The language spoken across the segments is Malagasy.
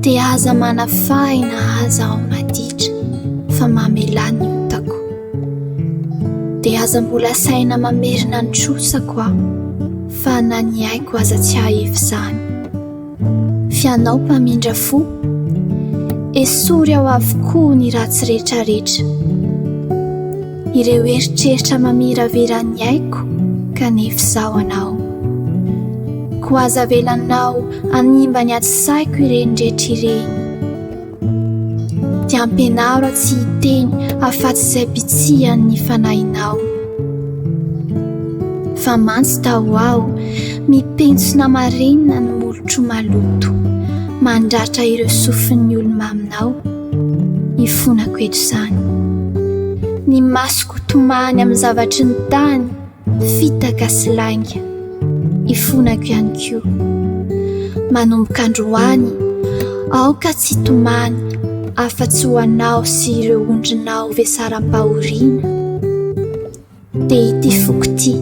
Dia aza manafahina aza aho maditra fa mamelà ny otako Dia aza mbola saina mamerina ny trosako aho fa na ny aiko aza tsy hahefy izany Fy anao mpamindra fo Esory ao avokoa ny ratsy rehetrarehetra Ireo eritreritra mamiravira ny aiko kanefa izaho anao. Koa aza avelanao hanimba ny atsy saiko ireny rehetra ireny. Dia ampianaro aho tsy hiteny afa-tsy izay bitsihan'ny fanahinao. Fa mantsy ta ho aho mipentsona marenina ny molotro maloto mandratra ireo sofin'ny olo-maminao. Ifonako eto izany. Ny masoko tomany amin'ny zavatry ny tany, fitaka sy lainga. Ifonako ihany koa. Manomboka androany, aoka tsy hitomany afa-tsy ho anao sy ireo ondrinao vesaram-pahoriana. dia ity foko ity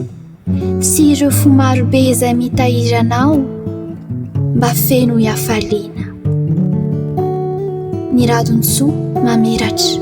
sy ireo fo marobe izay mitahiry anao mba feno hiafaliana. Ny radon-tsoa mamiratra.